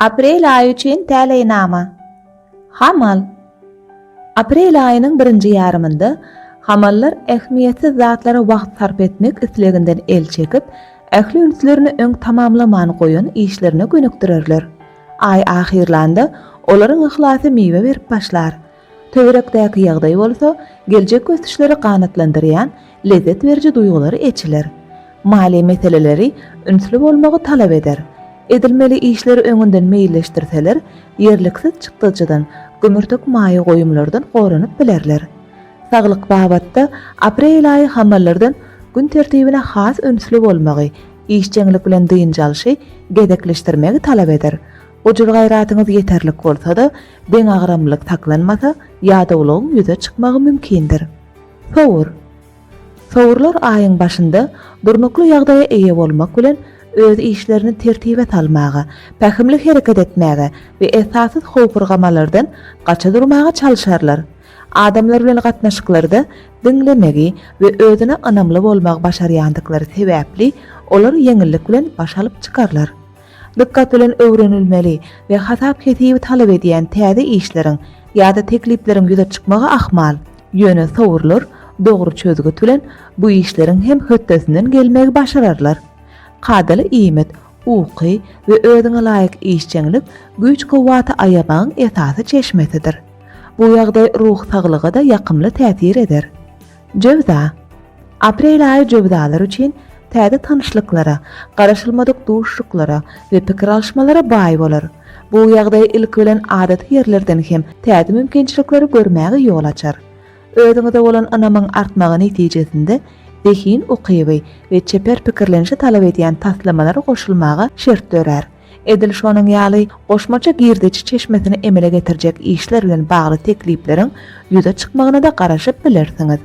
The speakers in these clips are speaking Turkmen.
Aprel aýy üçin täleýnama. Hamal. Aprel aýynyň birinji ýarymynda hamallar ähmiýetsiz zatlara wagt sarp etmek isleginden el çekip, ähli ünslerini öň tamamlaman goýan işlerine gönükdirerler. Aý ahyrlanda olaryň yhlasy miwe berip başlar. Töwerekdäki ýagdaý bolsa geljek ösüşleri ganatlandyrýan lezzet beriji duýgulary eçiler. Maliýe meseleleri ünsli bolmagy talap eder. Edilmeli işleri öňünden meýilleşdirseler, ýerliksiz çykdajydan, gümürtik maýa goýumlardan goranyp bilerler. Saglyk babatda aprel aýy hamallardan gün tertibine has ünsli bolmagy, işjeňlik bilen dynç alşy gezekleşdirmegi talap eder. Gujur-gaýratyňyz ýeterlik bolsa-da, Deňagramlylyk saklanmasa, ýadawlygyň ýüze çykmagy mümkindir. Sowur. Sowurlar aýyň başynda durnukly ýagdaýa eýe bolmak bilen, öz işlerini tertibe salmaga, pähimli hereket etmäge we esassyz howpurgamalardan gaça durmaga çalyşarlar. Adamlar bilen gatnaşyklarda diňlemegi we özüne ynamly bolmagy başarýandyklary sebäpli, olar ýeňillik bilen baş alyp çykarlar. dykgat bilen öwrenilmeli we hasap-hesibi talap edýän täze işleriň ýa-da teklipleriň ýüze çykmagy ahmal. Ýöne sowurlar dogry çözgüt bilen bu işleriň hem hötdesinden gelmegi başararlar. Kadaly iýmit, uky we özüňe laýyk işjeňlik güýç-kuwwaty aýamagyň esasy çeşmesidir. Bu ýagdaý ruh saglyga-da ýakymly täsir eder. Jöwza. Aprel aýy jöwzalar üçin täze tanyşlyklara, garaşylmadyk duşuşyklara we pikir alyşmalara baý bolar. Bu ýagdaý ilki bilen adaty ýerlerden hem täze mümkinçilikleri görmäge ýol açar. Özüňize bolan ynamyň artmagy netijesinde zehin ukyby we çeper pikirlenişi talap edýän taslamalary goşulmaga şert dörär. Edil şonuň ýaly, goşmaça girdeji çeşmesini emele getirjek işler bilen bagly teklipleriň ýüze çykmagyna-da garaşyp bilersiňiz.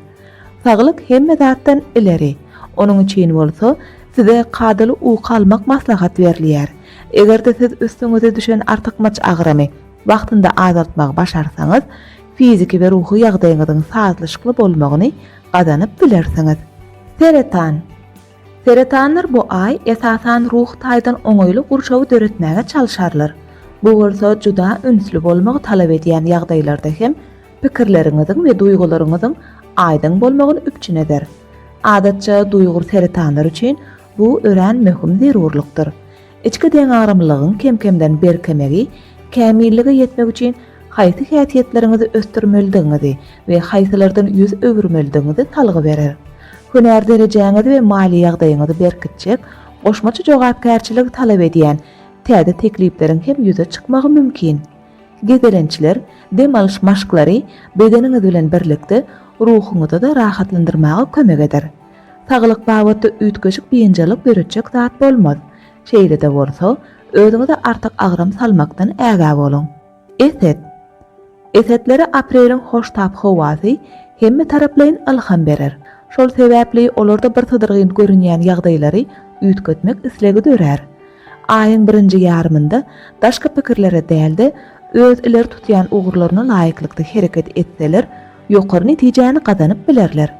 Saglyk hemme zatdan ileri. Onuň üçin bolsa, size kadaly uky almak maslahat berilýär. Eger-de siz üstüňize düşen artykmaç agramy wagtynda azaltmagy başarsaňyz, fiziki we ruhy ýagdaýyňyzyň sazlaşykly bolmagyny gazanyp bilersiňiz. Seretan. Seretanlar bu aý esasan ruhy taýdan oňaýly gurşawy döretmäge çalşarlar. Bu bolsa juda ünsli bolmagy talap edýän ýagdaýlarda hem pikirleriňiziň we duýgularyňyzyň aýdyň bolmagyny üpjün eder. Adatça duýgur seretanlar üçin bu örän möhüm zerurlykdyr. Içki deňagramlylygyň kem-kemden berkemegi kämillige ýetmek üçin haýsy häsiýetleriňizi ösdürmelidigiňizi we haýsylardan ýüz öwürmelidigiňizi salgy berer. Hünär derejäňizi we maliýe ýagdaýyňyzy berkitjek, goşmaça jogapkärçiligi talap edýän täze teklipleriň hem ýüze çykmagy mümkin. Gezelençler, dem alyş maşklary bedeniňiz bilen birlikde ruhuňyzy-da rahatlandyrmaga kömek eder. Saglyk babatda üýtgeşik biynjalyk döretjek zat bolmaz. Şeýle-de bolsa, özüňize artyk agram salmakdan ägä boluň. Eset. Esetlere apreliň hoştap howasy hemmetaraplaýyn ylham berer. Şol sebäpli olarda birsydyrgyn görünýän ýagdaýlary üýtgetmek islegi dörär. Aýyň birinji ýarymynda daşky pikirlere däl-de, öz ileri tutýan ugurlaryna laýyklykda hereket etseler, ýokary netijäni gazanyp bilerler.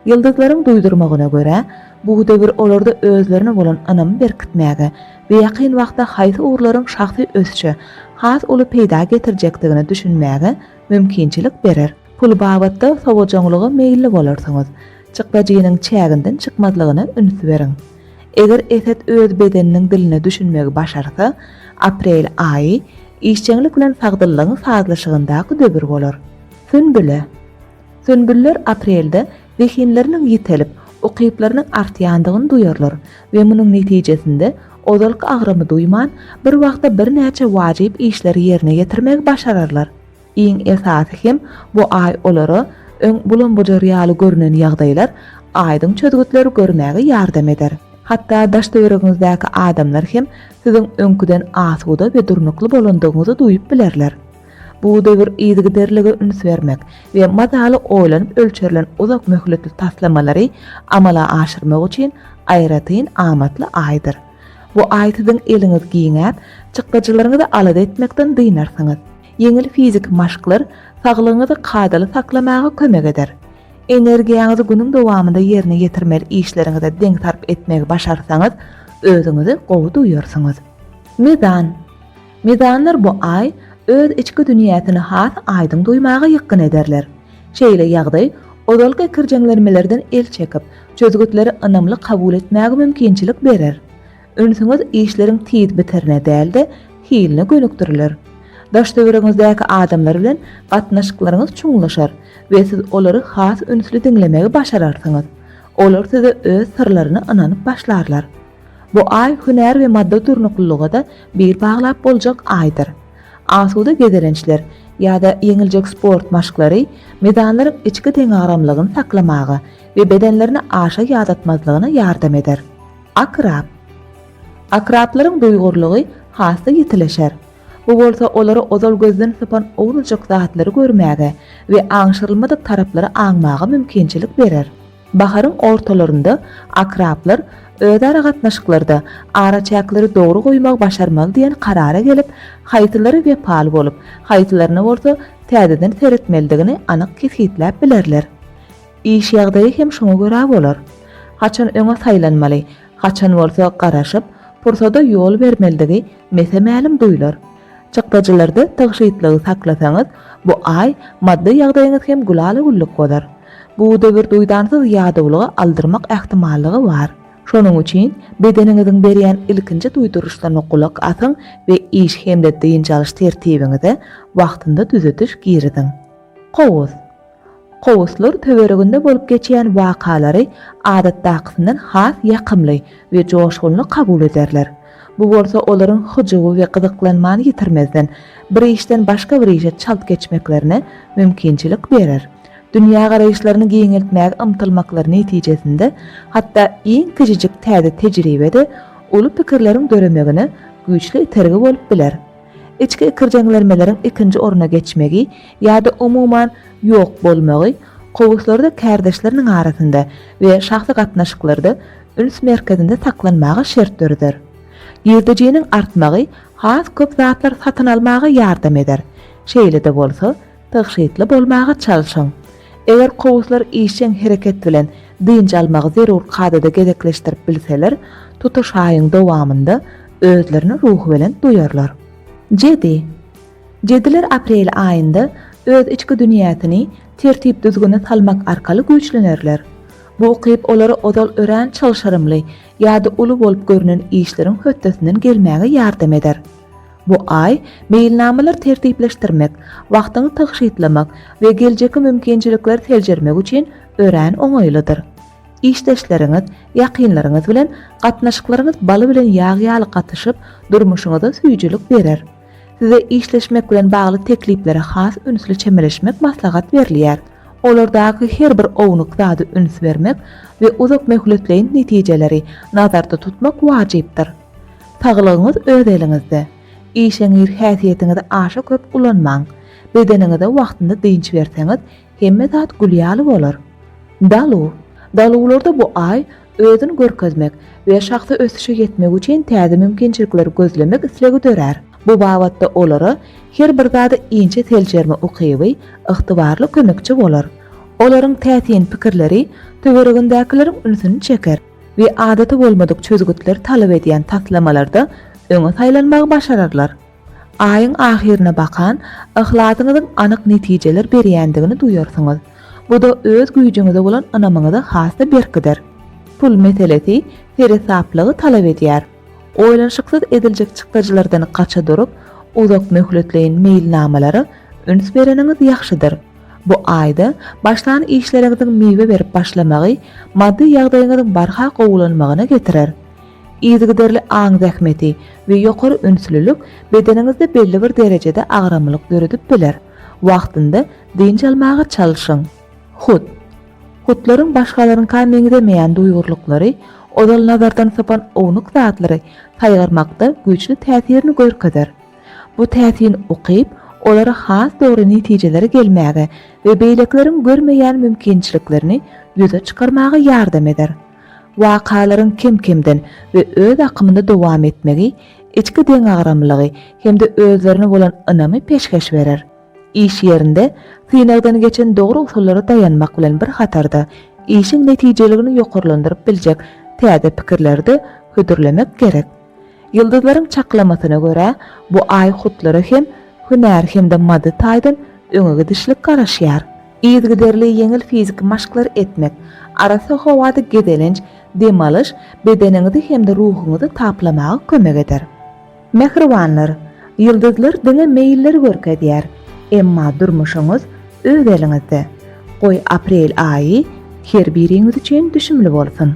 Ýyldyzlaryň duýdurmagyna görä, bu döwür olarda özlerine bolan ynamy berkitmäge we ýakyn wagtda haýsy ugurlaryň şahsy ösüşe has uly peýda getirjekdigine düşünmäge mümkinçilik berer. Pul babatda sowajaňlyga meýilli bolarsyňyz. Çykdajynyň çäginden çykmazlygyna üns beriň. Eger Eset öz bedeniniň diline düşünmegi başarsa, aprel aýy işjeňlik bilen sagdynlygyň sazlaşygyndaky döwür bolar. Sünbüle. Sünbüller aprelde zehinleriniň ýitelip, ukyplarynyň artýandygyny duýarlar we munuň netijesinde ozalky agramy duýman, bir wagtda birnäçe wajyp işleri ýerine ýetirmegi başararlar. Iň esasy hem bu aý olara öň bulam-bujar ýaly görnen ýagdaýlar aýdyň çözgütleri görmäge ýardam eder. Hatda daş-töweregiňizdäki adamlar hem siziň öňküden asuda we durnukly bolandygyňyzy duýup bilerler. Bu döwür yzygiderlige üns bermek we mazaly oýlanyp ölçerilen uzak möhletli taslamalary amala aşyrmak üçin aýratyn amatly aýdyr. Bu aý siziň eliňiz giňäp, çykdajylaryňyzy alada etmekden dynarsyňyz. Ýeňil fiziki maşklar saglygyňyzy kadaly saklamaga kömek eder. Energiýaňyzy günüň dowamynda ýerine ýetirmeli işleriňize deň sarp etmegi başarsaňyz, özüňizi gowy duýarsyňyz. Mizan. Mizanlar bu aý öz içki dünýäsini has aýdyň duýmaga ýykgyn ederler. Şeýle ýagdaý ozalky ikirjeňlenmelerden el çekip, çözgütleri ynamly kabul etmäge mümkinçilik berer. Ünsüňiz işleriň tiz bitirine däl-de, hiline gönükdiriler. Daş-töweregiňizdäki adamlar bilen gatnaşyklaryňyz çuňlaşar we siz olary has ünsli diňlemegi başararsyňyz. Olar size öz syrlaryny ynanyp başlarlar. Bu aý hünär we maddy durnuklylyga-da bil baglap boljak aýdyr. Asuda gezelençler ýa-da ýeňiljek sport maşklary mizanlaryň içki deňagramlygyny saklamaga we bedenlerini aşa ýadatmazlygyna ýardam eder. Akrap. Akraplaryň duýgurlygy has-da ýitileşer. Bu bolsa olary ozal gözden sypan owzujak zatlary görmäge we aňşyrylmadyk taraplary aňmaga mümkinçilik berer. Baharyň ortalarynda akraplar özara gatnaşyklarda araçäkleri dogry goýmagy başarmaly diýen karara gelip, haýsylary wepaly bolup, haýsylaryna bolsa täzeden seretmelidigini anyk kesgitläp bilerler. Iş ýagdaýy hem şoňa görä bolar. Haçan öňe saýlanmaly, haçan bolsa garaşyp, pursada ýol bermelidigi mese-mälim duýlar. Çykdajylarda tygşytlygy saklasaňyz, bu aý maddy ýagdaýyňyz hem gülala-güllük bolar. Bu döwür duýdansyz ýadawlyga aldyrmak ähtimallygy bar. Şonuň üçin bedeniňiziň berýän ilkinji duýduryşlaryna gulak asyň we iş hem-de dynç alyş tertibiňize wagtynda düzediş giriziň. Kowus. Kowuslar töwereginde bolup geçýän wakalary adatdakysyndan has ýakymly we joşgunly kabul ederler. Bu bolsa olaryň hyjuwy we gyzyklanmany ýitirmezden, bir işden başga bir işe çalt geçmeklerine mümkinçilik berer. Dünýägaraýyşlaryny giňeltmäge ymtylmaklary netijesinde hatda iň kiçijik täze tejribe-de uly pikirleriň döremegine güýçli itergi bolup biler. Içki ikirjeňlenmeleriň ikinji orna geçmegi ýa-da umuman ýok bolmagy kowuslarda kärdeşleriniň arasynda we şahsy gatnaşyklarda üns merkezinde saklanmaga şert döreder. Girdejiniň artmagy has köp zatlar satyn almaga ýardam eder, şeýle-de bolsa, Tygşytly bolmaga çalşyň. Eger kowuslar işjeň hereket bilen dynç almagy zerur kadada gezekleşdirip bilseler, tutuş aýyň dowamynda özlerini ruhubelent duýarlar. Jedi. Jediler aprel aýynda öz içki dünýäsini tertip-düzgüne salmak arkaly güýçlenerler. Bu ukyp olara ozal örän çylşyrymly ýa-da uly bolup görnen işleriň hötdesinden gelmäge ýardam eder. Bu aý meýilnamalar tertipleşdirmek, wagtyňy tygşytlamak we geljekki mümkinçilikleri seljermek üçin örän oňaýlydyr. Işdeşleriňiz, ýakynlaryňyz bilen gatnaşyklaryňyz baly bilen ýag ýaly gatyşyp, durmuşyňyza süýjülik berer. Size işleşmek bilen bagly tekliplere has ünsli çemeleşmek maslahat berilýär. Olardaky her bir ownuk zady üns bermek we uzakmöhletleýin netijeleri nazarda tutmak wajypdyr. Saglygyňyz öz eliňizde. Işeňňir häsiýetiňizi aşa köp ulanmaň. Bedeniňize wagtynda dynç berseňiz, hemme zat gül ýaly bolar. Daluw. Daluwlarda bu aý özüni görkezmek we şahsy ösüşe ýetmek üçin täze mümkinçilikleri gözlemek islegi dörär. Bu babatda olara her bir zady inçe seljerme ukyby ygtybarly kömekçi bolar. Olaryň täsin pikirleri töweregindäkileriň ünsüni çeker. we adaty bolmadyk çözgütleri talap edýän taslamalarda öňe saýlanmagy başararlar. Aýyň ahyryna bakan, yhlasyňyzyň anyk netijeler berýändigini duýarsyňyz. Bu-da öz güýjüňize bolan ynamyňyzy has-da berkider. Pul meselesi seresaplygy talap edýär. Oýlanyşyksyz ediljek çykdajylardan gaça durup, uzak möhletleýin meýilnamalara üns bereniňiz ýagşydyr. Bu aýda başlan işleriňiziň miwe berip başlamagy maddy ýagdaýyňyzyň barha gowulanmagyna getirer. Yzygiderli aň zähmeti we ýokary ünslülik bedeniňizde belli bir derejede agramlylyk döredip biler. Wagtynda dynç almaga çalyşyň. Hut. Hutlaryň başgalaryňka meňzemeýän duýgurlyklary, ozal nazardan sypan ownuk zatlary saýgarmakda güýçli täsirini görkezer. Bu täsin ukyp, olara has dogry netijelere gelmäge we beýlekileriň görmeýän mümkinçiliklerini ýüze çykarmaga ýardam eder. Wakalaryň kem-kemden we öz akymynda dowam etmegi içki deňagramlylygy hem-de özlerine bolan ynamy peşgeş berer. Iş ýerinde synagdan geçen dogry usullara daýanmak bilen bir hatarda, işiň netijeligini ýokarlandyryp biljek täze pikirleri-de hödürlemek gerek. Ýyldyzlaryň çaklamasyna görä, bu aý hutlara hem hünär hem-de maddy taýdan öňe gidişlik garaşýar. Yzygiderli ýeňil fiziki maşklar etmek, arassa howada gezelenç, dem alyş bedeniňizi hem-de ruhuňyzy taplamaga kömek eder. Mähribanlar, ýyldyzlar diňe meýilleri görkezýär, emma durmuşyňyz öz eliňizde. Goý aprel aýy her biriňiz üçin düşümli bolsun!